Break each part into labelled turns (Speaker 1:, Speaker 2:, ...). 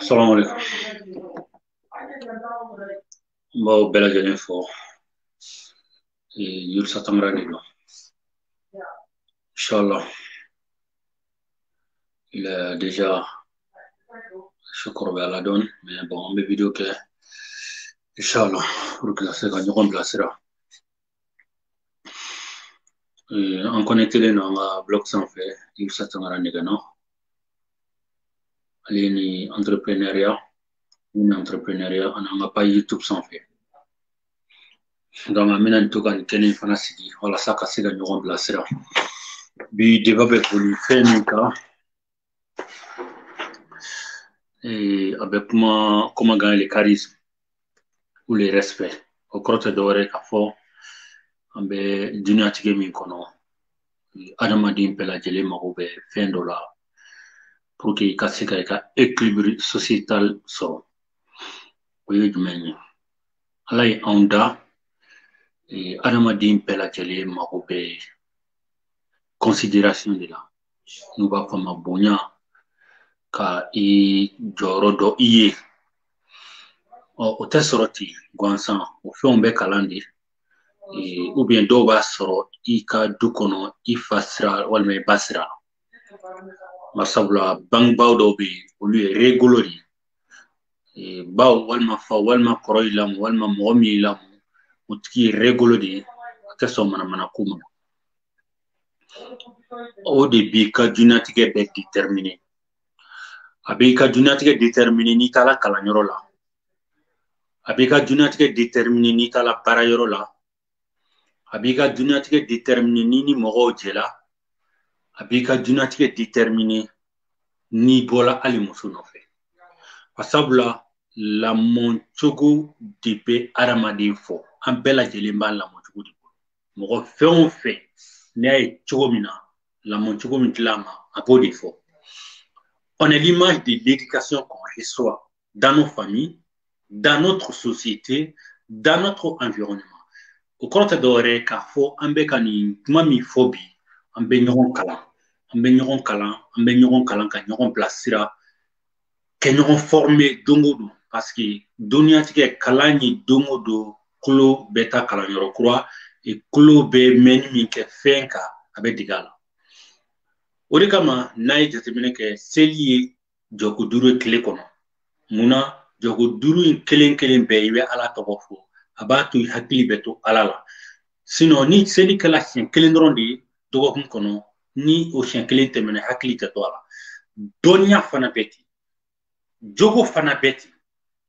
Speaker 1: Salam alaikum. N b'aw bɛɛ lajɛlen fo Idrissa Tangara de don inshallah il est déjà su kɔrɔbayala dɔɔni mais bon an bɛ video kɛ inshallah pour que ka se ka ɲɔgɔn bilasira Euh, an connectélen don an ka blog sanfɛ Idrissa Tangara nɛgɛnɔ ale ni entrepreneuriat ni entrepreneuriat ani an ka page youtube sanfɛ donc an bɛna nin to ka nin kɛnɛ fana sigi walasa ka se ka ɲɔgɔn bilasira bi débat bɛ boli fɛn min kan a bɛ kuma comment gagner le charisme ou le respect o kɔrɔ tɛ dɔwɛrɛ k'a fɔ an bɛ duniyatigɛ min kɔnɔ adamaden bɛɛ lajɛlen mago bɛ fɛn dɔ la pour que i ka se ka i ka équilibre sociétal sɔrɔ o ye jumɛn ye ala ye anw da adamaden bɛɛ lajɛlen mago bɛ considération de la n'u b'a fɔ a ma bonya ka i jɔyɔrɔ dɔn i ye ɔ o tɛ sɔrɔ ten gansan o fɛnw bɛ kalan de ou bien dɔw b'a sɔrɔ i ka du kɔnɔ i fa sira walima i ba sira barisabula bangebaaw dɔw bɛ yen olu ye réglo de ye ba walima fa walima kɔrɔ y'i lamɔ walima mɔgɔ min y'i lamɔ o tigi ye réglo de ye a tɛ sɔn manamana ko ma o de b'i ka duniyatigɛ bɛɛ déterminer a b'i ka duniyatigɛ déterminer n'i taara kalanyɔrɔ la a b'i ka duniyatigɛ déterminer n'i taara baarayɔrɔ la a b'i ka duniyatigɛ déterminer n'i ni mɔgɔw jɛla a b'i ka duniyatigɛ déterminer n'i bɔla hali muso nɔfɛ a sabula lamɔcogo de bɛ adamaden fɔ an bɛɛ lajɛlen b'an lamɔ mɔgɔ fɛn o fɛn n'i y'a ye cogo min na lamɔcogo min dil'a ma a b'o de fɔ on est l'image de l'éducation qu'on reçoit dans nos familles dans notre société dans notre environnement o kɔrɔ tɛ dɔwɛrɛ ye k'a fɔ an bɛ ka nin kuma min fɔ bi an bɛ ɲɔgɔn kalan an bɛ ɲɔgɔn kalan an bɛ ɲɔgɔn kalan ka ɲɔgɔn bilasira ka ɲɔgɔn former don o don parce que duniyatigɛ kalan ye don o don tulo bɛ taa kalanyɔrɔ kura tulo bɛ mɛnni min kɛ fɛn kan a bɛ dege a la o de kama n'a ye jateminɛ kɛ seli ye jɔko duuru ye tile kɔnɔ mun na jɔko duuru in kelen kelen bɛɛ i bɛ ala tɔgɔ fɔ a b'a to i hakili bɛ to ala la sinon ni seli kɛla siɲɛ kelen dɔrɔn de ye dɔgɔkun kɔnɔ ni o siɲɛ kelen tɛmɛna hakili tɛ to a la dɔnniya fana bɛ ten jogo fana bɛ ten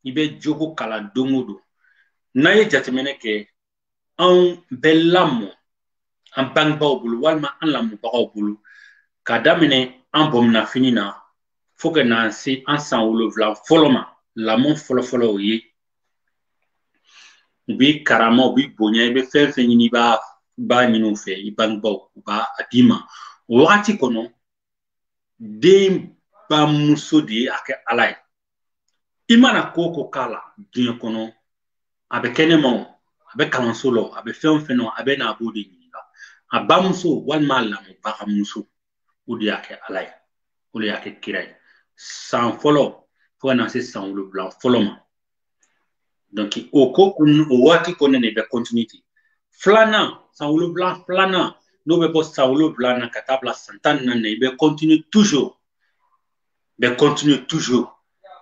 Speaker 1: i bɛ jogo kalan don o don n'an ye jateminɛ kɛ anw bɛ lamɔ an bangebaaw bolo walima an lamɔbagaw bolo ka daminɛ an bominɛfini na fo ka na se an san wolonwula fɔlɔ ma lamɔ fɔlɔfɔlɔ o ye u b'i karama u b'i bonya i bɛ fɛn fɛn ɲini i b'a ɲini u fɛ i bangebaaw u b'a d'i ma o wagati kɔnɔ den bamuso de ye a ka ala ye i mana ko o ko k'a la diɲɛ kɔnɔ a bɛ kɛnɛma o a bɛ kalanso la o a bɛ fɛn o fɛn na a bɛ na a b'o de ɲininka a bamuso walima a lamɔbagamuso o de y'a ka ala ye o de y'a ka kira ye san fɔlɔ fo ka na se san wolonwula fɔlɔ ma donc o ko o waati kɔnɔna i bɛ continue ten filanan san wolonwula filanan n'o bɛ bɔ san wolonwula na ka taa bila san tan ni naani na i bɛ continue toujours bɛ continue toujours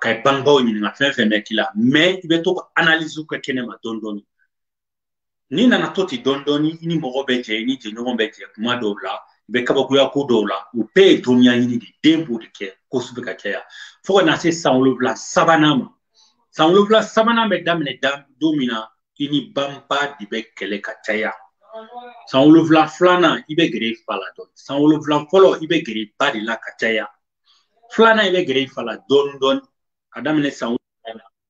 Speaker 1: ka i bangebaaw ɲininka fɛn fɛn bɛ k'i la mais i bɛ to ka analyse kɛ kɛnɛma dɔɔni dɔɔni n'i nana to ten dɔɔni dɔɔni i ni mɔgɔ bɛ jɛ i ni jɛɲɔgɔn bɛ jɛ kuma dɔw la i bɛ kabakoya ko dɔw la o bɛɛ ye dɔnniya ɲini de den b'o de kɛ kosɛbɛ ka caya fo ka na se san wolonwula sabanan ma san wolonwula sabanan bɛ daminɛ da don min na i ni bangebaa de bɛ kɛlɛ ka caya san wolonwula filanan i bɛ gɛrɛ i fa la dɔɔni san wolonwula fɔlɔ i bɛ gɛrɛ i ba de la ka caya filanan i bɛ gɛrɛ i fa la dɔɔni dɔɔni ka daminɛ san wolonwula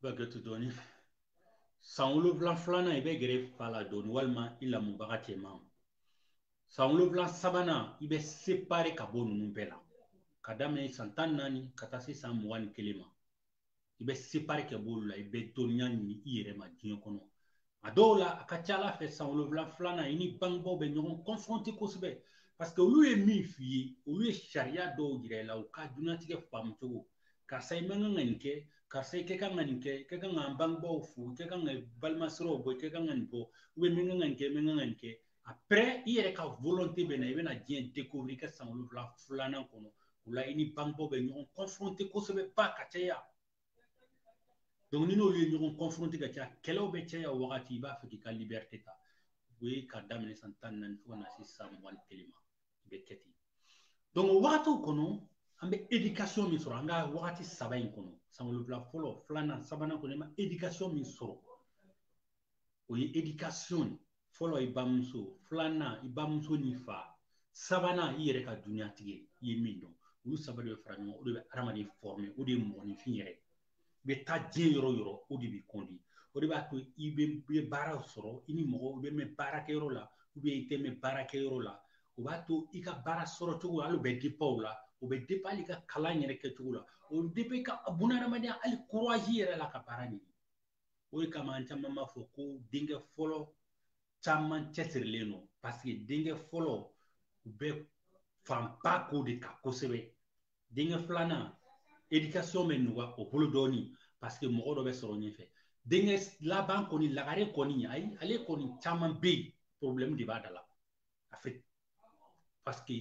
Speaker 1: Ba kɛ to dɔɔnin san wolonwula filanan i bɛ gɛrɛ fa la dɔɔnin walima i lamɔbaga cɛman san wolonwula sabanan i bɛ séparer ka bɔ ninnu bɛɛ la ka daminɛ san tan naani ka taa se san mugan ni kelen ma i bɛ séparer ka b'olu la i bɛ dɔnniya ɲini i yɛrɛ ma diɲɛ kɔnɔ a dɔw la a ka ca a la fɛ san wolonwula filanan i ni bangebaaw bɛ ɲɔgɔn confronté kosɛbɛ parce que olu ye min f'i ye olu ye sariya dɔw yira i la u ka diɲɛlatigɛ faamu cogo karisa i man kan ka nin kɛ karisa i ka kan ka nin kɛ i ka kan ka bangebaaw fo i ka kan ka balima siraw bɔ i ka kan ka nin bɔ i man kan ka nin kɛ i man kan ka nin kɛ après i yɛrɛ ka volonté bɛ na i bɛna diɲɛ découvrir i ka san wolonwula filanan kɔnɔ o la i ni bangebaaw bɛ ɲɔgɔn confronté kosɛbɛ ba ka caya donc n'i n'olu ye ɲɔgɔn confronté ka caya kɛlɛw bɛ caya o wagati i b'a fɛ k'i ka liberté ta o ye ka daminɛ san tan ni naani fo ka na se san mugan ni kelen ma i bɛ kɛ ten donc o wagatiw kɔnɔ an bɛ éducation min sɔrɔ an ka wagati saba in kɔnɔ san wolonwula fɔlɔ filanan sabanan kɔnɔ i ma éducation min sɔrɔ o ye éducation fɔlɔ i bamuso filanan i bamuso ni fa sabanan i yɛrɛ ka duniyatigɛ i ye min dɔn olu saba de bɛ fara ɲɔgɔn o de bɛ adamaden former o de ye mɔgɔninfin yɛrɛ i bɛ taa diɲɛ yɔrɔ o yɔrɔ o de b'i kɔndi o de b'a to i bɛ baara sɔrɔ i ni mɔgɔw bɛ mɛn baarakɛyɔrɔ la i tɛ mɛn baarakɛyɔrɔ la o b'a to i ka baara sɔrɔ cogo hali o bɛ dépend o la o bɛ dépend hali i ka kalan yɛrɛ kɛcogo la o bɛ dépend i ka bunahadamadenya hali courage yɛrɛ la ka baara ɲini o de kama an caman b'a fɔ ko denkɛ fɔlɔ caman cɛsirilen don paseke denkɛ fɔlɔ u bɛ fanba k'o de kan kosɛbɛ denkɛ filanan éducation bɛ nɔgɔya o bolo dɔɔni paseke mɔgɔ dɔ bɛ sɔrɔ ɲɛfɛ denkɛ laban kɔni lagare kɔni ayi ale kɔni caman bɛ yen porobilɛmu de b'a da la en fait parce que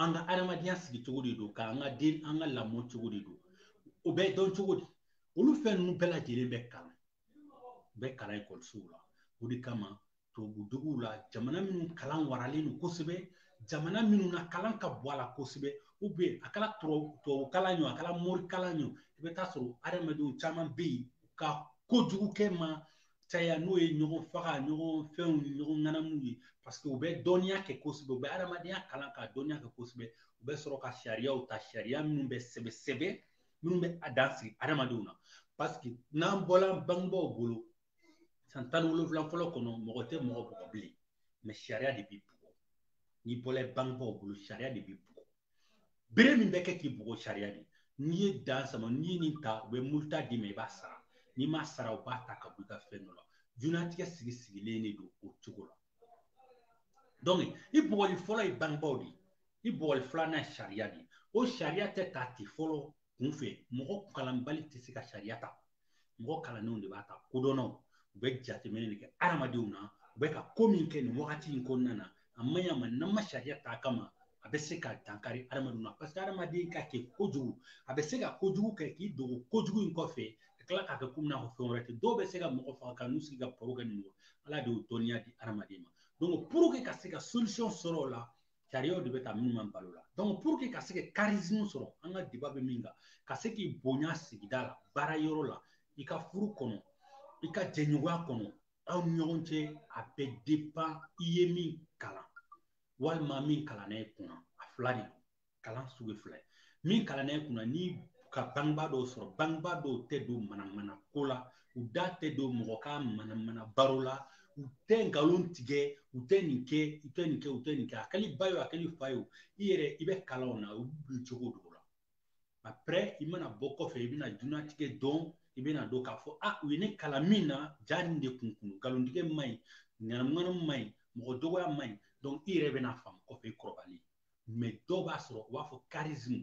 Speaker 1: an ka adamadenya sigicogo de don k'an ka den an ka lamɔ cogo de don o bɛ dɔn cogo di olu fɛn ninnu bɛɛ lajɛlen bɛ kalan u bɛ kalan ekɔlisow la o de kama tubabuduguw la jamana minnu kalan waralen don kosɛbɛ jamana minnu na kalan ka bon a la kosɛbɛ a kɛra tubabu kalan ye a kɛra morikalan ye i bɛ t'a sɔrɔ adamadenw caman bɛ yen ka kojugu kɛ ma caya n'o ye ɲɔgɔn faga ɲɔgɔn fɛnw ni ɲɔgɔn ŋanamu ye paseke u bɛ dɔnniya kɛ kosɛbɛ u bɛ adamadenya kalan ka dɔnniya kɛ kosɛbɛ u bɛ sɔrɔ ka sariyaw ta sariya minnu bɛ sɛbɛn sɛbɛn minnu bɛ a dan sigi adamadenw na paseke n'an bɔla bangebaaw bolo san tan ni wolonwula fɔlɔ kɔnɔ mɔgɔ tɛ mɔgɔ bugɔ bilen mais sariya de b'i bugɔ n'i bɔla bangebaaw bolo sariya de b'i bugɔ bere min bɛ kɛ k'i bugɔ sariya de n'i ye dan sama n'i ye nin ta u bɛ muluta d'i ma i b'a sara n'i m'a sara u b'a ta ka bɔ i ka fɛn dɔ la diɲɛlatigɛ sigi sigilen de don o cogo la donc i bugɔli fɔlɔ ye bangebaaw de ye i bugɔli filanan ye sariya de ye o sariya tɛ ta ten fɔlɔ kunfɛ mɔgɔ kalanbali tɛ se ka sariya ta mɔgɔ kalannenw de b'a ta kodɔnnaw u bɛ jateminɛ de kɛ adamadenw na u bɛ ka ko min kɛ nin wagati in kɔnɔna na a man ɲi a ma n'an ma sariya ta a kama a bɛ se ka dankari adamadenw na paseke adamaden ka kegun kojugu a bɛ se ka kojugu kɛ k'i dogo kojugu in kɔfɛ ka tila k'a kɛ komi n'a fɔ fɛn wɛrɛ tɛ dɔw bɛ se ka mɔgɔ faga ka n'u sigi ka baro kɛ nin ala de y'o dɔnniya di adamaden ma donc pour que ka se ka solution sɔrɔ o la sariyaw de bɛ ta minnu b'an bali o la donc pour que ka se ka charisme sɔrɔ an ka débat bɛ min kan ka se k'i bonya sigida la baara yɔrɔ la i ka furu kɔnɔ i ka jɛɲɔgɔnya kɔnɔ aw ni ɲɔgɔn cɛ a bɛ dépend i ye min kalan walima min kalanna i kunna a fila de kalan sugu fila ye min kalanna i kunna n'i ka bangebaa dɔw sɔrɔ bangebaa dɔw tɛ don manamana ko la u da tɛ don mɔgɔ ka manamana baro la u tɛ nkalon tigɛ u tɛ nin kɛ u tɛ nin kɛ u tɛ nin kɛ a kɛr'i ba ye a kɛr'i fa ye i yɛrɛ i bɛ kalan o la u bɛ jogo don i la après i mana bɔ kɔfɛ i bɛna diɲɛlatigɛ dɔn i bɛna dɔn k'a fɔ a u ye ne kalan min na ja nin de kun kun nkalontigɛ man ɲi ŋanamuŋanamu man ɲi mɔgɔ dɔgɔya man ɲi donc i yɛrɛ bɛna faamu kɔfɛ i kɔrɔbalen mais dɔw b'a sɔrɔ u b'a fɔ charisme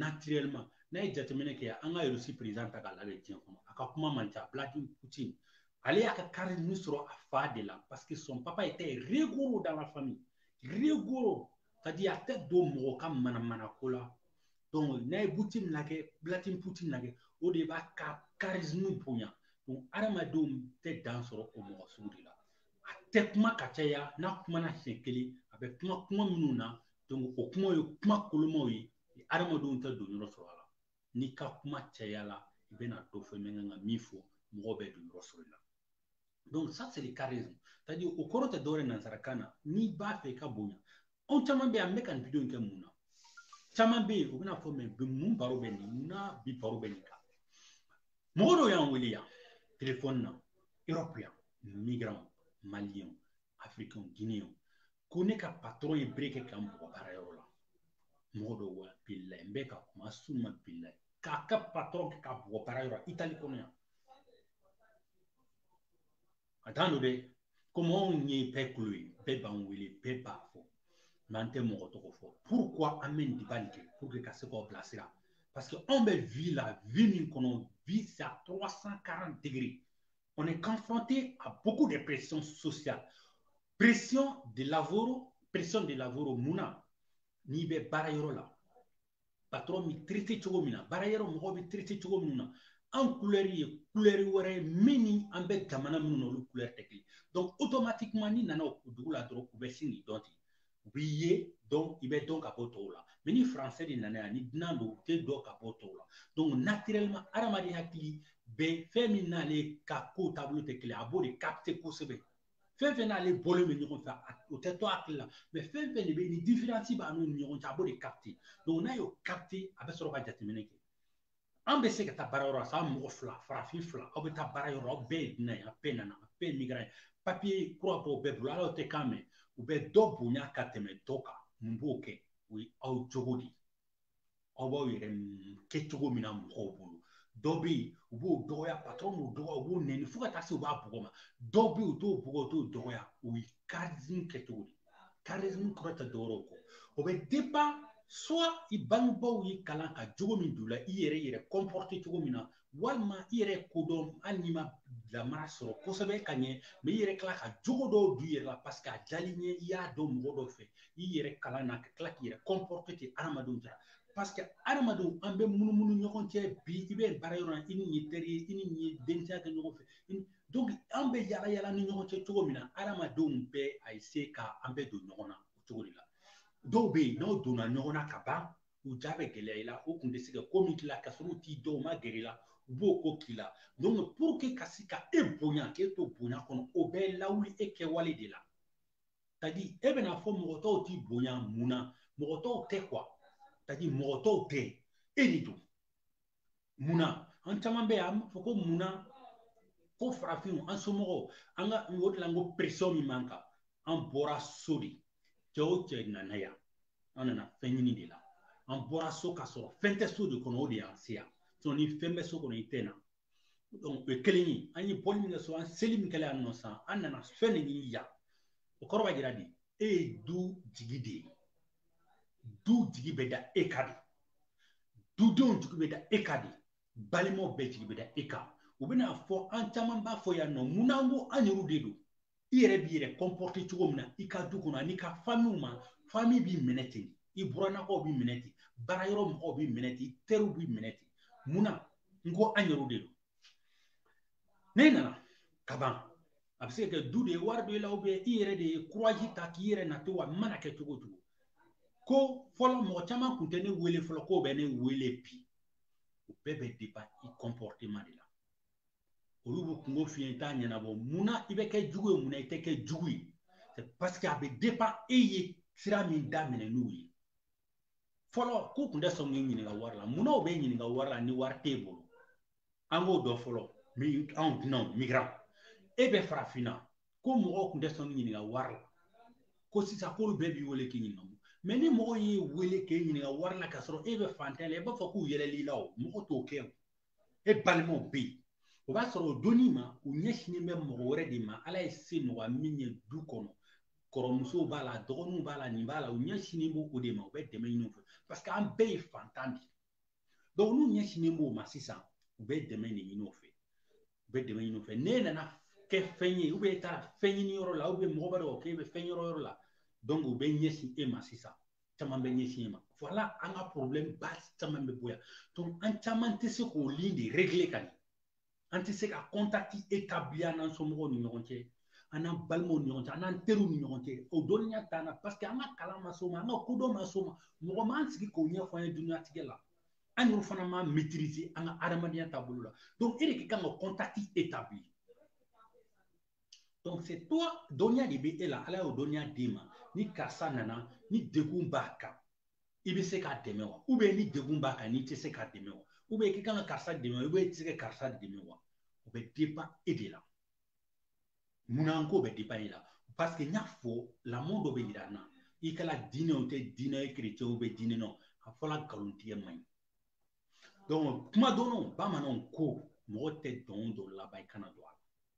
Speaker 1: naturellement n'a ye jateminɛ kɛ an ka russie président ta k'a lajɛ diɲɛ kɔnɔ a ka kuma man ca vladimir poutine ale y'a ka charisme sɔrɔ a fa de la parce que son papa était rigoureux dans la famille rigoureux c'est à dire a tɛ don mɔgɔ ka manamana ko la donc n'a ye poutine lajɛ vladimir poutine lajɛ o de b'a ka charisme bonya donc hadamadenw tɛ dan sɔrɔ o mɔgɔ sugu de la a tɛ kuma ka caya n'a kumana siɲɛ kelen a bɛ kuma kuma minnu na donc o kumaw ye kuma kolomaw ye adamadenw tɛ don yɔrɔ sɔrɔ a la n'i ka kuma cayala i bɛna dɔ fɔ i man kan ka min fɔ mɔgɔ bɛ don yɔrɔ sɔrɔ i la donc ça c'est le charisme c'est à dire o kɔrɔ tɛ dɔwɛrɛ nanzarakan na n'i b'a fɛ i ka bonya anw caman bɛ yan n bɛ ka nin video in kɛ mun na caman bɛ yen u bɛna fɔ mais bi mun baro bɛ nin mun na bi baro bɛ nin kan mɔgɔ dɔw y'an wele yan telefɔni na erɔpu yan migrant malien africain guinéen ko ne ka patɔrɔn ye bere kɛ ka n bugɔ baara yɔrɔ la mɔgɔ dɔw wa bilayi n bɛ ka kuma summa bilayi k'a ka patɔrɔn bɛ k'a bugɔ baara yɔrɔ itali kɔnɔ yan a t'an dɔn dɛ komi anw ye bɛɛ kulo ye bɛɛ b'an wele bɛɛ b'a fɔ mais an tɛ mɔgɔ tɔgɔ fɔ pourquoi an bɛ nin débat nin kɛ pour que ka se k'aw bilasira parce que anw bɛ vie la vie min kɔnɔ vie c'est à 340 degrés on est confronté à beaucoup de pressions sociales pression de lavoro pression de lavoro mun na n'i bɛ baara yɔrɔ la patɔrɔn b'i traiter cogo min na baara yɔrɔ mɔgɔw b'i traiter cogo min na an kulɛri ye kulɛri wɛrɛ ye min ni an bɛ jamana minnu na olu kulɛri tɛ kelen donc automatiquement n'i nana o dugu la dɔrɔn u bɛ sin k'i dɔn ten u b'i ye donc i bɛ dɔn ka bɔ tɔw la mais ni français de nana yan ni dunan don u tɛ dɔn ka bɔ tɔw la donc naturellement hadamaden hakili bɛ fɛn min n'ale ka ko taabolo tɛ kelen a b'o de capter kosɛbɛ fɛn fɛn n'ale bɔlen bɛ ɲɔgɔn fɛ o tɛ to hakili la mais fɛn fɛn de bɛ ni différence b'a n'u ni ɲɔgɔn cɛ a b'o de capter donc n'a y'o capter a bɛ sɔrɔ ka jateminɛ kɛ an bɛ se ka taa baara yɔrɔ la sa mɔgɔ fila farafin fila aw bɛ taa baara yɔrɔ aw bɛɛ ye dunan ye a bɛɛ nana a bɛɛ ye migrant ye papier kura b'aw bɛɛ bolo aw tɛ kan mɛn u bɛ dɔ bonya ka tɛmɛ dɔ kan mun b'o kɛ o ye aw jogo de ye aw b'aw yɛrɛ kɛ cogo min na mɔgɔw bolo dɔ bɛ yen u b'o dɔgɔya patɔrɔn b'o dɔgɔya u b'o nɛni fo ka taa se u b'a bugɔ mais dɔ bɛ yen u t'o bugɔ u t'o dɔgɔya o ye charisme kɛ cogo de charisme kɔrɔ tɛ dɔwɛrɛ kɔ o bɛ dépend soit i bangebaaw y'i kalan ka jogo min don i la i yɛrɛ yɛrɛ comporter cogo min na walima i yɛrɛ kodɔn hali n'i ma lamara sɔrɔ kosɛbɛ ka ɲɛ mɛ i yɛrɛ kila ka jogo dɔw don i yɛrɛ la paseke a diyal'i ɲɛ i y'a dɔn mɔgɔ dɔ fɛ i yɛrɛ kalan na ka tila k'i yɛrɛ kɔnpɔrɔte ten adamadenw cɛ paseke adamadenw an bɛ munumunu ɲɔgɔn cɛ bi i bɛ baara yɔrɔ la i ni nin ye teri ye i ni nin ye denmisɛnya kɛ ɲɔgɔn fɛ an bɛ yala yala ni ɲɔgɔn cɛ cogo min na adamadenw bɛ a se ka an bɛ don ɲɔgɔn na o cogo de la dɔw bɛ yen n'aw donna ɲɔgɔn na ka ban u ja bɛ gɛlɛya i la u kun tɛ se ka ko min k'i la ka sɔrɔ u t'i dɔn u ma gɛrɛ i la u b'o ko k'i la donc pour que ka se ka e bonya k'e to bonya kɔnɔ o bɛɛ lawuli e kɛwale de la tadi e bɛn'a fɔ mɔgɔ tɔw t'i bonya mun na mɔgɔ tɔw tɛ kuwa tadi mɔgɔ tɔw tɛ e de don mun na an caman bɛ yan an b'a fɔ ko mun na ko farafinw an somɔgɔw an ka o de la n ko peresiyɔn min b'an kan an bɔra so de cɛ o cɛ nana yan an nana fɛn ɲini de la an bɔra so ka sɔrɔ fɛn tɛ so de kɔnɔ o de y'an se yan ni fɛn bɛ so kɔnɔ i tɛ na o ye kelen ye an ye bɔli min kɛ so an seli min kɛla yan nɔ sisan an nana fɛn de ɲini yan o kɔrɔ b'a jira de e ye du jigi de ye du jigi bɛ da e kan de dudenw jigi bɛ da e kan de balimaw bɛɛ jigi bɛ da e kan u bɛn'a fɔ an caman b'a fɔ yan nɔ mun na n ko an yɛrɛw de don i yɛrɛ b'i yɛrɛ kɔnpɔrite cogo min na i ka du kɔnɔ an'i ka famiw ma fami b'i minɛ ten i burannakaw b'i minɛ ten baara yɔrɔ mɔgɔw b'i minɛ ten i teriw b'i minɛ ten mun na n ko an yɛrɛw de don ne nana ka ban a bɛ se ka kɛ du de ye wari b'i la i yɛrɛ de ye kuraji ta k'i yɛrɛ nati wa mana kɛ cogo o cogo ko fɔlɔ mɔgɔ caman kun tɛ ne wele fɔlɔ k'o bɛ ne wele bi o bɛɛ bɛ depan i kɔnpɔriteman de la olu bɛ kunko f'i ye i t'a ɲɛnabɔ munna i bɛ kɛ jugu ye munna i tɛ kɛ jugu ye paseke a bɛ depan e ye sira min daminɛ n'u ye fɔlɔ k'u kun tɛ sɔn k'i ɲininka wari la munna u b'e ɲininka wari la ni wari t'e bolo an b'o dɔn fɔlɔ anw dunanw migiran e bɛ farafinna ko mɔgɔw kun tɛ sɔn k'i ɲininka wari la ko sisan k'olu bɛɛ b'i wele k'i ɲininka mɛ ni mɔgɔ y'i wele k'e ɲininka wari la k'a sɔrɔ e bɛ fantan la i b'a fɔ k'u yɛlɛl'i la o mɔgɔ t'o kɛ o e balimaw bɛ yen o b'a sɔrɔ o donni ma u ɲɛsinnen bɛ mɔgɔ wɛrɛ de ma ala ye se nɔgɔya min ye du kɔnɔ kɔrɔmusow b'a la dɔgɔninw b'a la nin b'a la u ɲɛsinnen b'o o de ma u bɛ dɛmɛ ɲini u fɛ paseke an bɛɛ ye fantan de ye dɔnku n'u ɲɛsinnen b'o ma sisan u bɛ dɛmɛ de ɲini o fɛ u bɛ dɛmɛ ɲini o fɛ n'e nana kɛ fɛn ye ubiyɛn e taara fɛn ɲini yɔrɔ la ubiyɛn mɔgɔ b'a dɔn k'e bɛ fɛn ɲini yɔrɔ la dɔnku u bɛ ɲɛsin e ma sisan caman bɛ ɲɛsin e ma voilà an ka problème ba caman bɛ bɔ yan donc an caman tɛ se k'o lien de régler ka ɲɛ an tɛ se ka contact établir an n'an somɔgɔw ni ɲɔgɔn cɛ an n'an balimaw ni ɲɔgɔn cɛ an n'an teriw ni ɲɔgɔn cɛ o dɔnniya t'an na parce que an ka kalan ma s'o ma an ka kodɔn ma s'o ma mɔgɔ m'an sigi k'o ɲɛfɔ an ye dunyatigɛ la an yɛrɛ fana ma maîtriser an ka adamadenya taabolo la donc e de ka kan ka contact établir donc c'est toi dɔnniya de bɛ e la ala y'o dɔnniya d'i ma ni karisa nana ni degun b'a kan i bɛ se k'a dɛmɛ wa ou bien ni degun b'a kan n'i tɛ se k'a dɛmɛ wa ou bien k'i kan ka karisa dɛmɛ wa ou bien i tɛ se ka karisa dɛmɛ wa o bɛ dépend e de la munna n k'o bɛ dépend e la parce que n y'a fɔ lamɔ dɔ bɛ yira an na i kɛra diinɛ o tɛ diinɛ ye chrétien o bɛ diinɛ na a fɔra nkalontigɛ man ɲi donc kuma dɔnnaw bamananw ko mɔgɔ tɛ dɔn dɔ laban i kana don a la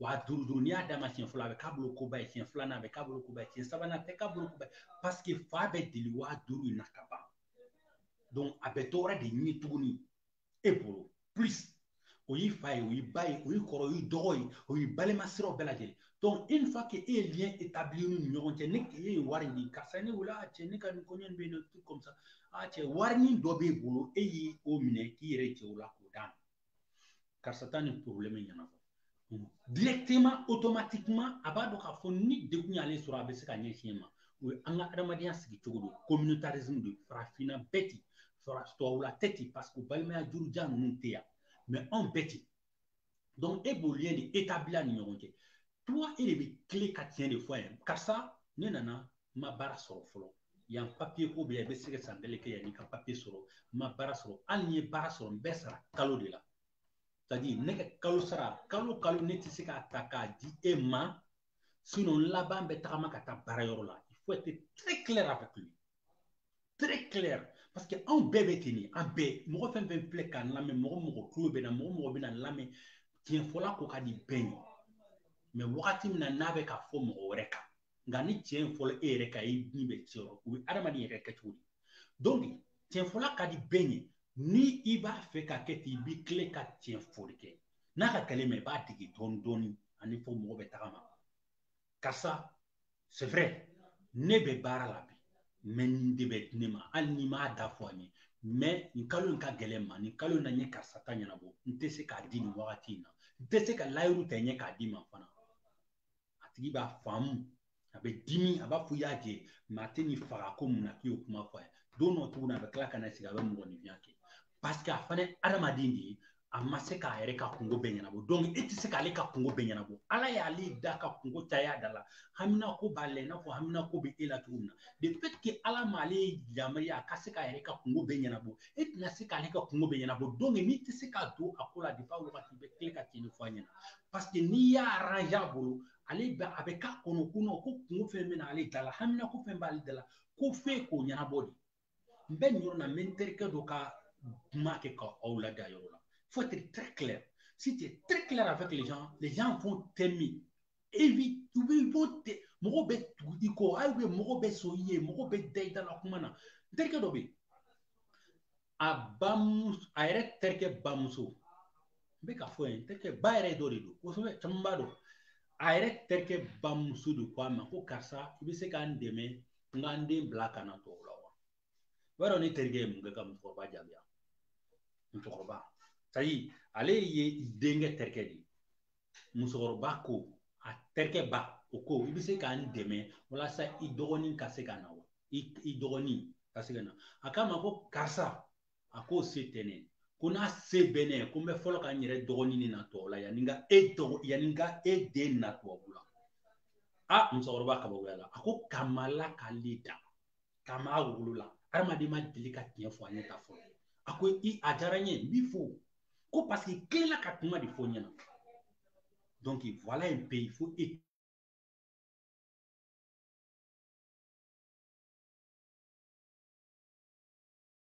Speaker 1: waa duuru duuru n'i y'a d'a ma siɲɛ fɔlɔ a bɛ k'a bolo koba ye siɲɛ filanan a bɛ k'a bolo koba ye siɲɛ sabanan a tɛ k'a bolo koba ye parce que fa bɛ deli waa duuru in na ka ban a bɛ dɔ wɛrɛ de ɲini tuguni e bolo plus o y'i fa ye o y'i ba ye o y'i kɔrɔ o y'i dɔgɔ ye o y'i balima siraw bɛɛ lajɛlen donc une fois que e ye lien établi n'u ni ɲɔgɔn cɛ ni e ye wari ɲini karisa ne wele a cɛ ne ka nin kɔɲɔ nin bɛ yen nɔ comme ça a cɛ warinin dɔ b'e bolo e y'o minɛ k'i yɛrɛ jɛ o la k'o d'a ma karisa taa nin problème ɲɛnabɔ directement automatiquement a b'a dɔn k'a fɔ ni degun y'ale sɔrɔ a bɛ se ka ɲɛsin e ma o ye an ka adamadenya sigi cogo don communautarisme de farafinna bɛ ten tubabula tɛ ten parce que balimaya jurujan ninnu tɛ yan mais anw bɛ ten donc e b'o lien de établir a ni ɲɔgɔn cɛ toi e de bɛ tilen ka tiɲɛ de fɔ a ye karisa ne nana n ma baara sɔrɔ fɔlɔ yan papiye ko bɛ yan i bɛ se ka san kelen kɛ yann'i ka papiye sɔrɔ n ma baara sɔrɔ hali ni n ye baara sɔrɔ n bɛ sara kalo de la c'est-à-dire ne ka kalo sara kalo kalo ne tɛ se k'a ta k'a di e ma sinon n laban bɛ tagama ka taa baara yɔrɔ la il faut être très clair avec lui très clair parce que anw bɛɛ bɛ ten de an bɛɛ mɔgɔ fɛn fɛn filɛ k'an lamɛn mɔgɔ mɔgɔ tulo b'an na mɔgɔ mɔgɔ bɛn'an lamɛn tiɲɛfɔla ko ka di bɛɛ ye mais wagati min na n'a bɛ ka fɔ mɔgɔ wɛrɛ kan nka ni tiɲɛ in fɔla e yɛrɛ kan i ni bɛ tiɲɛ yɔrɔ o ye adamaden yɛrɛ kɛcogo di donc tiɲɛfɔla ka di bɛɛ ye ni i b'a fɛ ka kɛ ten i b'i tilen ka tiɲɛ fɔli kɛ n'a ka gɛlɛn mais i b'a dege dɔɔni dɔɔni ani fɔ mɔgɔ bɛ tagama karisa c'est vrai ne bɛ baara la bi mais nin de bɛ di ne ma hali n'i m'a da fɔ a ye mais nin kalo in ka gɛlɛn n ma nin kalo in na n ye karisa ta ɲɛnabɔ n tɛ se k'a di nin wagati in na n tɛ se ka layiru ta i ye k'a d'i ma fana a tigi b'a faamu a bɛ dimi a b'a fɔ i y'a jɛ mais a tɛ nin faga ko mun na k'i y'o kuma fɔ a ye don dɔ tuguni a bɛ tila ka na sigi a bɛ mɔgɔninfinya kɛ paseke a fana ye adamaden de ye a ma se k'a yɛrɛ ka kungo bɛɛ ɲɛnabɔ dɔnku e tɛ se k'ale ka kungo bɛɛ ɲɛnabɔ ala y'ale da ka kungo caya da la hamina ko b'a la i n'a fɔ hamina ko bɛ e la cogo min na de fait que ala m'ale yamaruya a ka se k'a yɛrɛ ka kungo bɛɛ ɲɛnabɔ e tɛna se k'ale ka kungo bɛɛ ɲɛnabɔ dɔnku n'i tɛ se k'a don a ko la depi a wagati bɛ tilen ka tiɲɛ nin fɔ a ɲɛna paseke n'i y'a aranze a bolo ale bɛ a bɛ k'a kɔnɔ ko ko kungo fɛn bɛ na ale da la hamina ko fɛn b'ale da la ko f'e k'o ɲɛnabɔ de n bɛ nin yɔrɔ la n bɛ n terikɛ dɔ ka kuma kɛ ka aw laadi a yɔrɔ la faut être très clair si tu es très clair avec les gens les gens vont t'aimer et puis u bɛ ils vont te mɔgɔw bɛ tugu i kɔ hali bɛ mɔgɔw bɛ sɔn i ye mɔgɔw bɛ da i da la kuma na n terikɛ dɔ bɛ yen a bamuso a yɛrɛ terikɛ bamuso n bɛ k'a fɔ yen n terikɛ ba yɛrɛ dɔ de don kosɛbɛ caman b'a dɔn a yɛrɛ terikɛ bamuso de ko a ma ko karisa i bɛ se k'an dɛmɛ n ka n den bila ka na tubabu la wa i b'a dɔn ne terikɛ ye mun kɛ ka musokɔrɔba jaabi a musokɔrɔba c'est-à-dire ale ye denkɛ terikɛ de ye musokɔrɔba ko a terikɛ ba o ko i bɛ se k'an dɛmɛ walasa i dɔgɔnin ka se ka na wa i dɔgɔnin ka se ka na a k'a ma ko karisa a k'o se tɛ ne ko n'a se bɛ ne ye ko n bɛ fɔlɔ ka n yɛrɛ dɔgɔnin de na tubabu la yanni n ka e dɔgɔ yanni n ka e den na tubabu la a musokɔrɔba kabakoya la a ko kabi ala k'ale da kabi a wolola hadamaden ma deli ka tiɲɛ fɔ a ɲɛ tan fɔlɔ a ko i a diyara n ye n b'i fo ko paseke i tilenna ka kuma de fɔ n ɲɛna donc voilà un peu il faut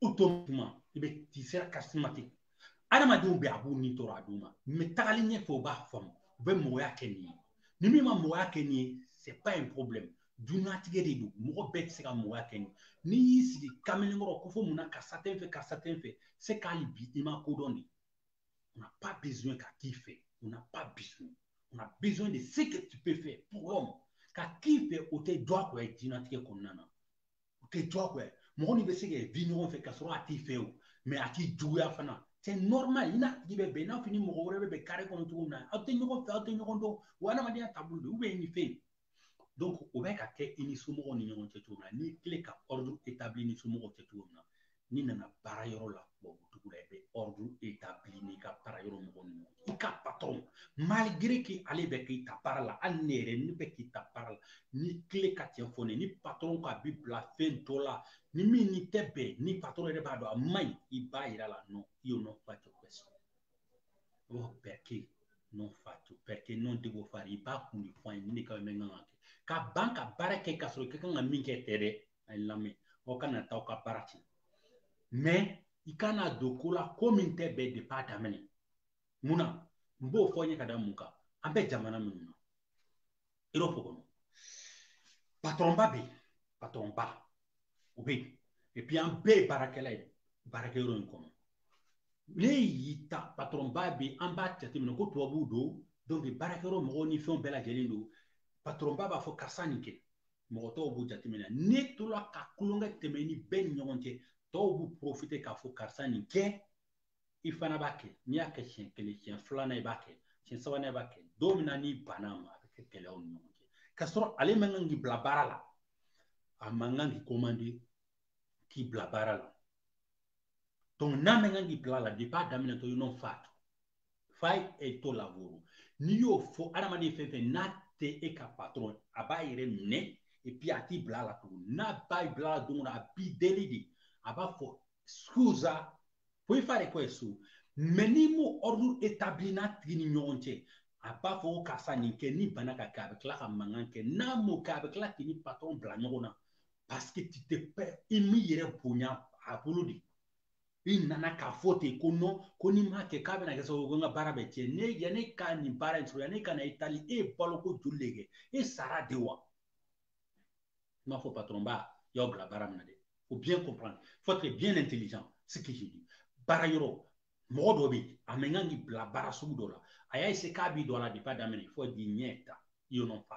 Speaker 1: automatiquement tu seras charismatique adamadenw bɛ a b'u ni tɔɔrɔ a tuma mais tagali ɲɛfɛ u b'a faamu u bɛ mɔgɔya kɛ n'i ye ni min ma mɔgɔya kɛ n'i ye c'est pas un problème duniɲatigɛ de don mɔgɔ bɛɛ tɛ se ka mɔgɔya kɛ nin n'i y'i sigi kamalen kɔrɔ k'o fɔ mun na karisa tɛ n fɛ karisa tɛ n fɛ c'est qu'hali bi i ma ko dɔn de on n'a pas besoin ka k'i fɛ on n'a pas besoin on a besoin de ce que tu peux faire pour l'homme ka k'i fɛ o tɛ diyagoya ye diɲɛnatigɛ kɔnɔna na o tɛ diyagoya ye mɔgɔ n'i bɛ se ka vi ɲɔgɔn fɛ k'a sɔrɔ a t'i fɛ o mais a t'i juguya fana c'est normal i n'a tigi bɛ bɛn i n'a fɔ i ni mɔgɔ wɛrɛ bɛ bɛn kare kɔnɔ cogo min na aw tɛ ɲɔgɔn fɛ aw tɛ ɲɔgɔn dɔn wa adamadenya taabolo don i ni fɛn donc o bɛ ka kɛ i ni somɔgɔw ni ɲɔgɔn cɛ cogo min na n'i tilen ka ordre établi ni somɔgɔw cɛ cogo min na n'i nana baara yɔrɔ la tubabu dugu la i bɛ ɔridu etabili n'i ka baara yɔrɔ mɔgɔ ninnu i ka patɔrɔn maligere ke ale bɛ k'i ta baara la hali ne yɛrɛ ne bɛ k'i ta baara la n'i tilen ka tiɲɛ fɔ ne ni patɔrɔn k'a b'i bila fɛn dɔ la ni min n'i tɛ bɛn ni patɔrɔn yɛrɛ b'a dɔn a man ɲi i b'a yira a la no io non faccio questo oh perché io non faccio perché non devo fare i b'a kun de fɔ an ye nin de ka bɛnkan ka kɛ ka ban ka baara kɛ ka sɔrɔ i ka kan ka min kɛ tɛ dɛ a ye lamɛn aw kana taa aw ka baara tiɲɛ mais i kana don ko la ko min tɛ bɛn depuis a daminɛ mun na n b'o fɔ n ye ka da mun kan an bɛ jamana minnu na erɔpu kɔnɔ patɔrɔnba bɛ yen patɔrɔnba o bɛ yen et puis an bɛɛ ye baarakɛla ye baarakɛyɔrɔ in kɔnɔ ne y'i ta patɔrɔnba bɛ yen an b'a jateminɛ ko tubabuw don baarakɛyɔrɔ mɔgɔw ni fɛnw bɛɛ lajɛlen don patɔrɔnba b'a fɔ karisa nin kɛ mɔgɔ tɔw b'u jateminɛ ne tola ka kulonkɛ tɛmɛ ni bɛɛ ni ɲɔgɔn cɛ tɔw b'u profiter k'a fɔ karisa nin kɛ i fana b'a kɛ n'i y'a kɛ siɲɛ kelen siɲɛ filanan i b'a kɛ siɲɛ sabanan i b'a kɛ don min na n'i banna a ma a bɛ kɛ gɛlɛya aw ni ɲɔgɔn cɛ k'a sɔrɔ ale man kan k'i bila baara la a man kan k'i komande k'i bila baara la n'a man kan k'i bila a la depuis a daminɛtɔ i no fa fai è tuo lavoro n'i y'o fɔ adamaden fɛn fɛn n'a tɛ e ka patɔrɔn a b'a yɛrɛ minɛ et puis a t'i bila a la tugun n'a b'a bila a la don o don a b'i deli de a b'a fɔ scusa puoi fare questo mais n'i m'o ordre établir i n'a tigi ni ɲɔgɔn cɛ a b'a fɔ ko karisa nin kɛ n'i banna ka kɛ a bɛ tila ka mankan kɛ n'a m'o kɛ a bɛ tila k'i ni patɔrɔn bila ɲɔgɔn na parce que tu t'es pas i m'i yɛrɛ bonya a bolo de i nana k'a fɔ ten ko non ko n'i m'a kɛ k'a bɛna kɛ sababu ko n ka baara bɛ tiɲɛ ne yanni ka nin baara in sɔrɔ yanni ka na Itali e ye baloko joli de kɛ e sara de wa n b'a fɔ patɔrɔn ba y'aw bila baara min na dɛ faut bien comprendre faut être bien intelligent ce que je dis baara yɔrɔ mɔgɔ dɔ bɛ yen a man kan k'i bila baara sugu dɔ la a y'a essayer k'a b'i don a la depuis a daminɛ faut dire niente io non fa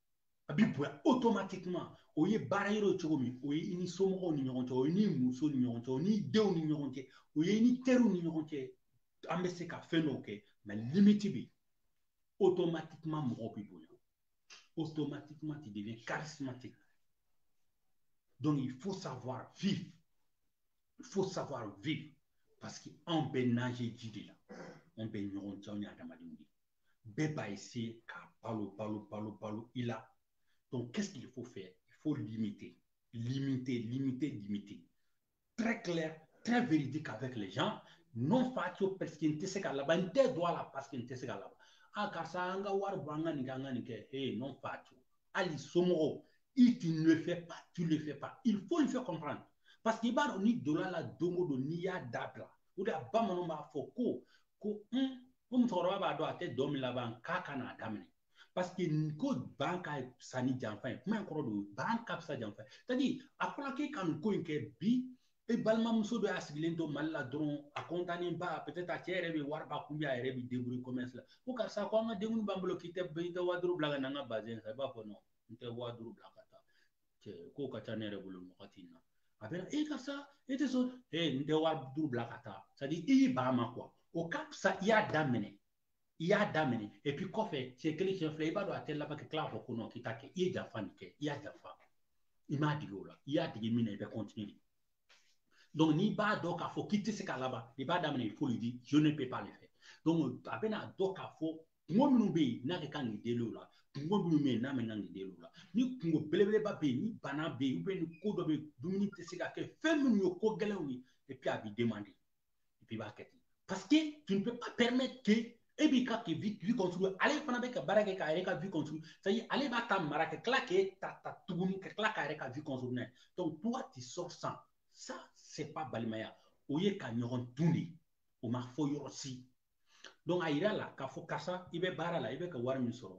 Speaker 1: a b'i bonya automatiquement o ye baara yɔrɔ ye cogo min o ye i ni somɔgɔw ni ɲɔgɔn cɛ o ye i ni muso ni ɲɔgɔn cɛ o ni denw ni ɲɔgɔn cɛ o ye i ni teriw ni ɲɔgɔn cɛ an bɛ se ka fɛn dɔw kɛ mais limite bɛ yen automatiquement mɔgɔw b'i bonya automatiquement tu deviens charismatique donc il faut savoir vivre il faut savoir vivre parce que anw bɛ nager ji de la anw bɛ ɲɔgɔn cɛ anw ye adamadenw de ye Bɛɛ b'a essayer ka balo balo balo balo i la donc qu'est-ce qu'il faut faire il faut limiter limiter limiter limiter très clair très véridique avec les gens non faccio parce que n tɛ se k'a laban n tɛ don a la parce que n tɛ se k'a laban a karisa an ka wari bɔ an ka nin kɛ an ka nin kɛ ee non faccio hali somɔgɔw i tu ne le fais pas tu le fais pas il faut le faire comprendre parce que i b'a dɔn n'i donna a la don o don n'i y'a dabila o de la bamananw b'a fɔ ko ko un ko musokɔrɔba b'a dɔn a tɛ dɔn min laban k'a kan'a daminɛ parce que ko ban ka fisa ni janfa ye kuma in kɔrɔ don ban ka fisa janfa ye c'est-à-dire a fɔra k'e ka nin ko in kɛ bi e balimamuso dɔ y'a sigilen to mali la dɔrɔn a kɔntannen ba peut-être a cɛ yɛrɛ bɛ wari b'a kun a yɛrɛ bɛ débrouiller commerce la ko karisa ko an ka denkundi b'an bolo k'i tɛ i tɛ waa duuru bila ka na an ka bazɛn san i b'a fɔ non n tɛ waa duuru bila ka taa cɛ ko ka ca ne yɛrɛ bolo nin wagati in na a bɛ na e karisa e tɛ sɔn e n tɛ waa duuru bila ka taa c'est à dire i y'i ban a ma quoi o ka fisa i y'a daminɛ i y'a daminɛ et puis kɔfɛ siɲɛ kelen siɲɛ fila i b'a dɔn a tɛ laban ka tila k'a fɔ ko non k'i t'a kɛ i ye janfa nin kɛ i y'a janfa i m'a dege o la i y'a dege min na i bɛ continuer donc n'i b'a dɔn k'a fɔ k'i tɛ se ka laban i b'a daminɛ il faut le dire je ne peux pas le faire donc a bɛna dɔn k'a fɔ kungo minnu bɛ yen n'a ka kan k'i deli o la kungo minnu bɛ yen n'a man kan k'i deli o la ni kungo belebeleba bɛ yen ni bana bɛ yen ni ko dɔ bɛ yen dumuni tɛ se ka kɛ fɛn minnu ye ko gɛlɛnw ye et puis a b'i demander et puis i b'a kɛ ten parce que tu ne peux pas permettre que e b'i ka k'i vie vie construire ale fana bɛ ka baara kɛ k'a yɛrɛ ka vie construire c'est à dire ale b'a ta mara ka tila k'e ta ta tuguni ka tila k'a yɛrɛ ka vie construire n'a ye donc toi tu sors sans ça c'est pas balimaya o ye ka ɲɔgɔn dun de ye o ma fɔ yɔrɔ si a yira la k'a fɔ karisa i bɛ baara la i bɛ ka wari min sɔrɔ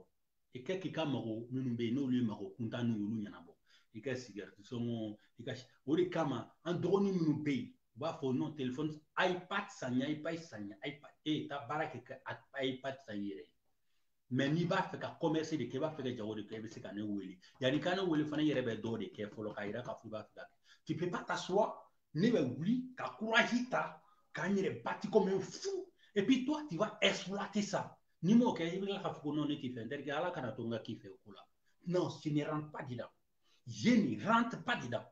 Speaker 1: i kɛ k'i ka mago minnu bɛ yen n'olu ye mago kuntanninw y'olu ɲɛnabɔ i ka sigɛriti sɔngɔ i ka o de kama an dɔgɔnin minnu bɛ yen u b'a fɔ non telefɔni ipad san n ye ipad san n ye ipad e taa baara kɛ ka ipad san i yɛrɛ ye mais n'i b'a fɛ ka commerce de kɛ i b'a fɛ ka jago de kɛ i bɛ se ka ne wele yanni ka ne wele fana i yɛrɛ bɛ dɔw de kɛ fɔlɔ k'a yira k'a fɔ i b'a fɛ ka kɛ tu peux pas t'asseoir ne bɛ wuli ka courage ta ka n yɛrɛ battre comme un fou et puis toi tu vas exploiter ça ni n m'o kɛ i bɛ tila k'a fɔ ko non ne t'i fɛ n terikɛ ala kana to n ka k'i fɛ o ko la non je ne rentre pas dedans je ne rentre pas dedans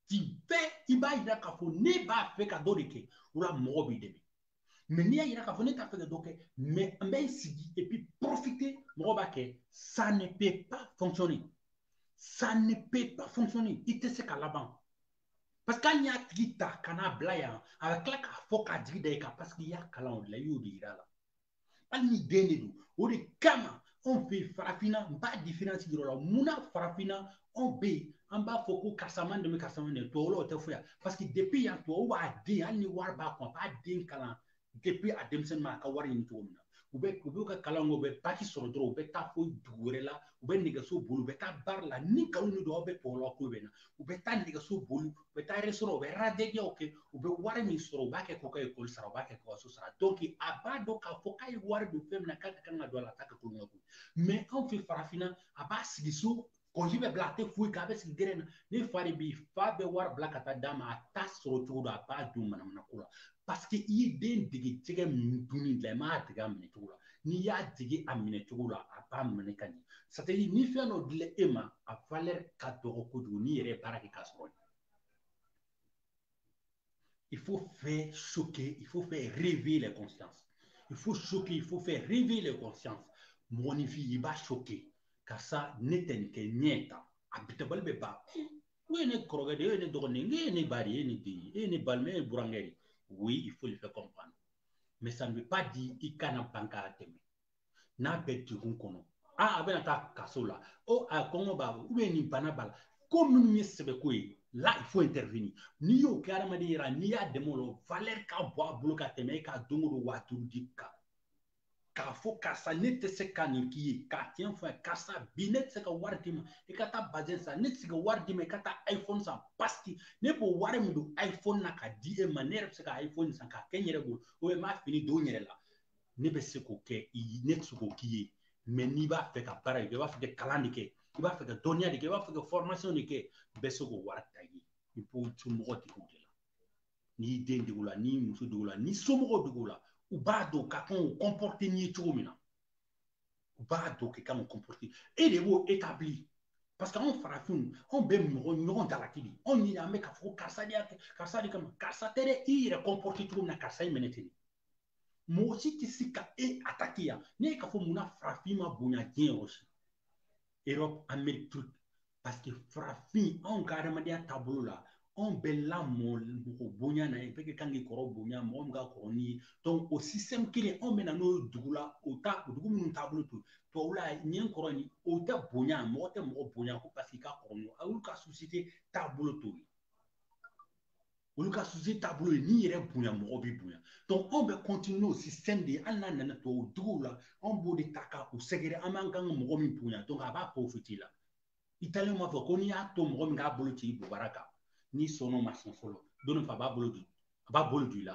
Speaker 1: tu fais i b'a yira k'a fɔ ne b'a fɛ ka dɔ de kɛ o la mɔgɔ b'i dɛmɛ mais n'i y'a yira k'a fɔ ne t'a fɛ ka dɔ kɛ mais n bɛ n sigi et puis profiter mɔgɔ b'a kɛ ça ne peut pas fonctionner ça ne peut pas fonctionner i tɛ se ka laban parce que hali n'i y'a tigi ta ka n'a bila yan a bɛ tila k'a fɔ k'a jigi da i kan parce que i y'a kalan o de la i y'o de yira a la hali ni den de don o de kama anw fɛ yen farafinna n b'a différence yira aw la munna farafinna anw bɛ yen an b'a fɔ ko karisa ma n dɛmɛ karisa ma n dɛmɛ tubabu la o tɛ foyi parce que depuis yan tubabu b'a den hali ni wari b'a kun a b'a den kalan depuis a denmisɛnninma a ka wari ɲini cogo min na u bɛ u b'u ka kalan kɛ u bɛ baki sɔrɔ dɔrɔn u bɛ taa fo dugu wɛrɛ la u bɛ nɛgɛso boli u bɛ taa baara la ni nkalon de don aw bɛ tubabu la ko bɛ na u bɛ taa nɛgɛso boli u bɛ taa restaurant u bɛ baaradegeyaw kɛ u bɛ wari min sɔrɔ u b'a kɛ k'u ka ekɔli sara u b'a kɛ k'u ka so sara donc a b'a dɔn k'a fɔ k'a ye wari don fɛn min na k'a ka kan ka don a la a t'a kɛ kulonkɛ ko mais anw fɛ farafinna a b'a sigi so congé bɛ bila a tɛ foyi kɛ a bɛ sigi gɛrɛn na ne fa de bɛ yen fa bɛ wari bila ka taa d'a ma a t'a sɔrɔ cogo dɔn a b'a don manamana ko la parce que i ye den dege jɛgɛ min dunni la i m'a dege a minɛ cogo la n'i y'a dege a minɛ cogo la a b'a minɛ ka ɲɛ c'est-à-dire ni fɛn dɔ dila e ma a valeur ka dɔgɔ kojugu n'i yɛrɛ ye baara kɛ k'a sɔrɔ il faut faire choquer il faut faire réveiller les consciences il faut choquer il faut faire réveiller les consciences mɔgɔninfin i b'a choquer karisa ne tɛ nin kɛ ɲɛ ta a bitabali bɛ ban o ye ne kɔrɔkɛ de ye o ye ne dɔgɔnin ye e ye ne ba de ye e ye ne den ye e ye ne balima e ye burankɛ de oui il faut le faire comprendre mais ça ne veut pas dire i kana ban k'a dɛmɛ n'a bɛ degun kɔnɔ aa a bɛna taa kaso la o a kɔngɔ b'a la ou bien nin bana b'a la ko minnu ye sɛbɛko ye là il faut intervenir n'i y'o kɛ adamaden yɛrɛ n'i y'a dɛmɛ o la valeur ka bon a bolo ka tɛmɛ e ka don o don waa duuru di kan k'a fɔ karisa ne tɛ se ka nin k'i ye ka tiɲɛ fɔ a ye karisa bi ne tɛ se ka wari d'i ma i ka taa bazɛn san ne tɛ se ka wari d'i ma i ka taa iphone san parce que ne b'o wari min don iphone na ka di e ma ne yɛrɛ bɛ se ka iphone san k'a kɛ n yɛrɛ bolo ou bien n b'a fini don n yɛrɛ la ne bɛ se k'o kɛ i ye ne tɛ se k'o k'i ye mais n'i b'a fɛ ka baara de kɛ i b'a fɛ ka kalan de kɛ i b'a fɛ ka dɔnniya de kɛ i b'a fɛ ka formation de kɛ n bɛ se k'o wari ta i ye i b'i somɔgɔw dege o de la n'i den dege o la n'i muso dege o la n'i somɔgɔw dege o la u b'a dɔn ka kan k'u comporter n'i ye cogo min na u b'a dɔn k'i kan k'u comporter e de b'o établir parce que anw farafinw anw bɛ mɔgɔ ɲɔgɔn jalaki de anw ɲini an bɛ k'a fɔ ko karisa de y'a kɛ karisa de kama karisa tɛ dɛ i yɛrɛ comporter cogo min na karisa y'i minɛ ten mɔgɔ si tɛ se ka e attaquer yan ne ye k'a fɔ munna farafin ma bonya diɲɛ yɔrɔ si Europe, Amérique truc. Parce que farafin, anw ka adamadenya taabolo la, anw bɛ lamɔ mɔgɔ bonya na ye bɛɛ ka kan k'i kɔrɔ bonya mɔgɔ min ka kɔrɔ n'i ye donc o système kelen anw bɛ na n'o ye dugu la o ta o dugu minnu taabolo t'o tubabu la ɲɛ kɔrɔ ni o tɛ bonya mɔgɔ tɛ mɔgɔ bonya ko parce que i ka kɔrɔ n'o ye olu ka société taabolo t'o ye olu ka société taabolo ye n'i yɛrɛ bonya mɔgɔ b'i bonya donc anw bɛ continuer n'o système de ye hali n'a nana tubabu duguw la anw b'o de ta ka u sɛgɛrɛ an b'an kan ka mɔgɔ min bonya donc a b'a profiter la italien b'a fɔ ko n'i y'a to mɔgɔ min k'a bolo ci i bobara kan n'i sɔnn'o ma siɲɛ fɔlɔ don dɔ fɛ a b'a bolo don i la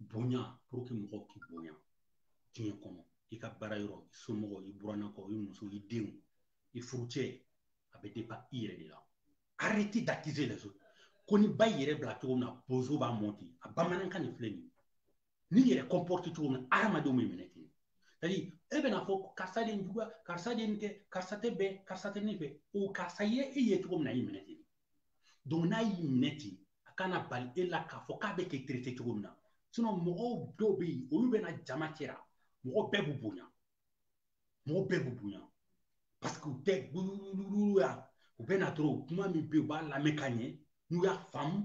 Speaker 1: bonya pour que mɔgɔw k'i bonya diɲɛ kɔnɔ i ka baara yɔrɔ i somɔgɔw i burannakaw i muso i denw i furucɛ a bɛ dépend i yɛrɛ de la arrêtez d'accuser les autres ko ni ba yɛrɛ bila cogo min na bozo b'a mɔn ten a bamanankan nin filɛ nin n'i yɛrɛ comporter cogo min na hadamadenw b'i minɛ ten c'est-à-dire e bɛna fɔ karisa de ye juguya karisa de ye nin kɛ karisa tɛ bɛn karisa tɛ ne fɛ o karisa ye e ye cogo min na i minɛ ten donc n'a y'i minɛ ten a kana bali e la k'a fɔ k'a bɛ k'i traité cogo min na sinon mɔgɔw dɔw bɛ yen olu bɛ na jama cɛra mɔgɔ bɛɛ b'u bonya mɔgɔ bɛɛ b'u bonya parce que u tɛ gulugulu ya u bɛ na dɔrɔn kuma min bɛ yen u b'a lamɛn ka ɲɛ n'u y'a faamu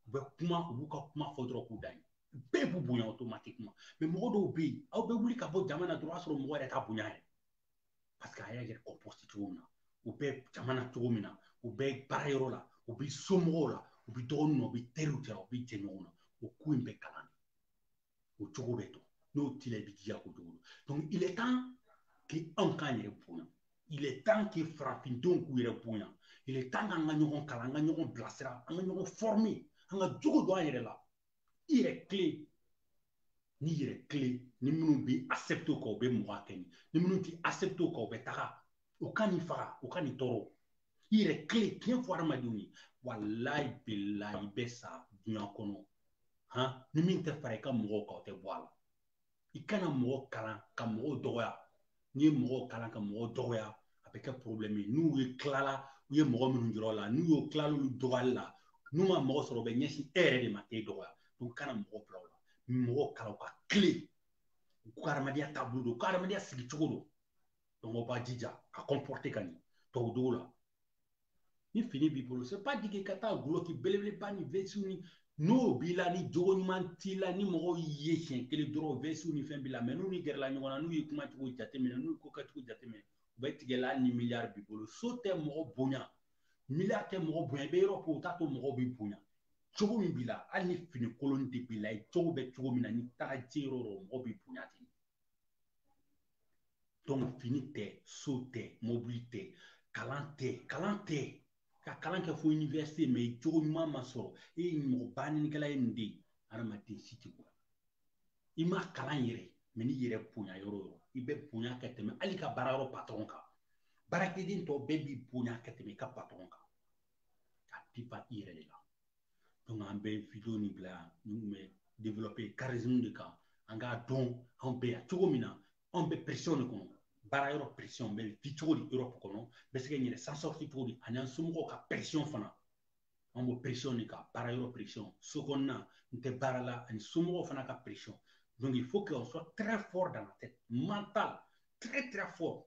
Speaker 1: u bɛ kuma u b'u ka kuma fɔ dɔrɔn k'u da yen bɛɛ b'u bonya automatiquement mais mɔgɔ dɔw bɛ yen aw bɛ wuli ka bɔ jama na dɔrɔn o y'a sɔrɔ mɔgɔ yɛrɛ t'a bonya yɛrɛ parce que a y'a yɛrɛ comporter cogo min na u bɛ jama na cogo min na u bɛ baarayɔrɔ la u bɛ somɔgɔw la u bɛ dɔgɔninw na u bɛ teriw cɛ u bɛ jɛɲɔgɔnw na o ko in bɛ kalan de o cogo bɛ dɔn n'o t'i la i bɛ jija k'o cogo dɔn donc il est temps que anw k'an yɛrɛ bonya il est temps que farafindenw k'u yɛrɛ bonya il est temps k'an ka ɲɔgɔn kalan an ka ɲɔgɔn bilasira an ka ɲɔgɔn former an ka jogo don an yɛrɛ la i yɛrɛ tilen n'i yɛrɛ tilen ni minnu bɛ accepter o kan u bɛ mɔgɔ kɛ ni ni minnu tɛ accepter o kan u bɛ taga o kan'i faga o kan'i tɔɔrɔ i yɛrɛ tilen tiɲɛ fɔ hadamadenw ye walayi bilayi i bɛ sa dunya kɔnɔ han ni min tɛ fara i ka mɔgɔw kan o tɛ bɔ a la i kana mɔgɔ kalan ka mɔgɔw dɔgɔya n'i ye mɔgɔw kalan ka mɔgɔw dɔgɔya a bɛ kɛ problème ye n'u ye tilala u ye mɔgɔ minnu yɔrɔ la n'u y'o tilala olu dɔgɔyali la n'u ma mɔgɔ sɔrɔ u bɛ ɲɛsin e yɛrɛ de ma k'e dɔgɔya donc kana mɔgɔ bila o la mɔgɔ kalan u ka tilen u ka hadamadenya taabolo dɔn u ka hadamadenya sigicogo dɔn donc aw b'a jija ka comporter ka ɲɛ tubabudugu la ni fini b'i bolo c'est pas dit que ka taa gulɔki belebeleba ni vɛsiw ni n'o b'i la ni jogo ɲuman t'i la ni mɔgɔw y'i ye siɲɛ kelen dɔrɔn vɛsiw ni fɛn b'i la mais n'u n'i gɛrɛla ɲɔgɔn na n'u y'i kumacogo jateminɛ n'u ye ko kɛcogo jateminɛ u bɛ tigɛ i la hali ni miliyari b'i bolo so tɛ mɔgɔ bonya miliyari tɛ mɔgɔ bonya i bɛ yɔrɔ ko o t'a to mɔgɔw b'i bonya jogo min b'i la hali ni fini kolon de b'i la i cogo bɛ cogo min na n'i taara jɔ yɔrɔ o yɔrɔ mɔgɔw b'i bonya ten donc fini tɛ so tɛ mobili tɛ kalan tɛ kalan tɛ i ka kalan kɛ fo université mais i jogo ɲuman ma sɔrɔ e ye mɔgɔ banɛnikɛla ye nin de ye hadamaden si t'i bonya i ma kalan yɛrɛ mais n'i yɛrɛ bonya yɔrɔ o yɔrɔ i bɛ bonya ka tɛmɛ hali i ka baarayɔrɔ patɔrɔn kan baarakɛden tɔ bɛɛ b'i bonya ka tɛmɛ i ka patɔrɔn kan ka dépend i yɛrɛ de la donc an bɛ video nin bila yan min tun bɛ développer charisme de kan an k'a dɔn anw bɛ yan cogo min na anw bɛ pression de kɔnɔ baarayɔrɔ pression bɛ di cogo di Europe kɔnɔ bɛ se ka n yɛrɛ s'en sortir cogo di ani an somɔgɔw ka pression fana an b'o pression de kan baarayɔrɔ pression so kɔnɔna n tɛ baara la ani somɔgɔw fana ka pression donc il faut qu'on soit très fort dans la tête mental très très fort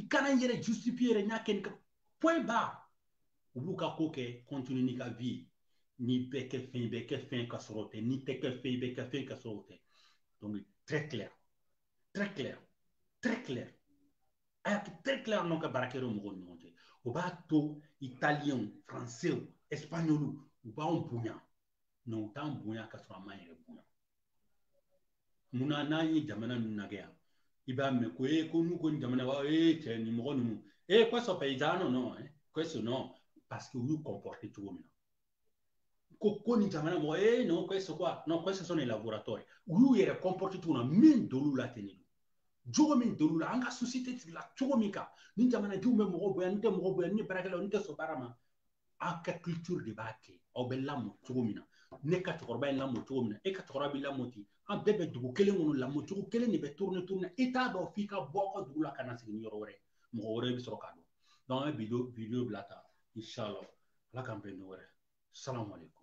Speaker 1: i kana i yɛrɛ justifier yɛrɛ n y'a kɛ nin kama point barre u b'u ka ko kɛ continue n'i ka vie ye n'i bɛ kɛ fɛn i bɛ kɛ fɛn ka sɔrɔ o tɛ n'i tɛ kɛ fɛn i bɛ kɛ fɛn ka sɔrɔ o tɛ donc très clair très clair très clair a y'a kɛ très clair n'aw ka baarakɛyɔrɔ mɔgɔw ni ɲɔgɔn cɛ o b'a to italiyɛnw faransɛw ɛsipaɲɔliw u b'anw bonya mais u t'an bonya ka sɔrɔ an m'an yɛrɛ bonya munna n'an ye jamana ninnu lajɛ yan i b'a mɛn ko ee ko n'u ko nin jamana b'a ee cɛ nin mɔgɔ ninnu ee questo paesano no questo no parce que u y'u comporter cogo min na ko ko nin jamana mɔgɔ ee no questo quoi no questo sono i lavoratori u y'u yɛrɛ comporter cogo min na min d'olu la ten de jogo min d'olu la an ka société sigila cogo min kan ni jamanadenw bɛ mɔgɔ bonya ni tɛ mɔgɔ bonya ni baarakɛlaw ni tɛ sɔn baara ma aw ka culture de b'a kɛ aw bɛ lamɔ cogo min na ne ka cɛkɔrɔba ye lamɔ cogo min na e ka cɛkɔrɔba b'i lamɔ ten an bɛɛ bɛ dugu kelen kɔnɔ lamɔ cogo kelen de bɛ tourne tourne i t'a dɔn f'i ka bɔ aw ka dugu la ka na sigi ni yɔrɔ wɛrɛ mɔgɔ wɛrɛ bɛ sɔrɔ k'a dɔn donc an bɛ video video bila tan inshallah ala k'an bɛn ni wɛrɛ salamu aleykum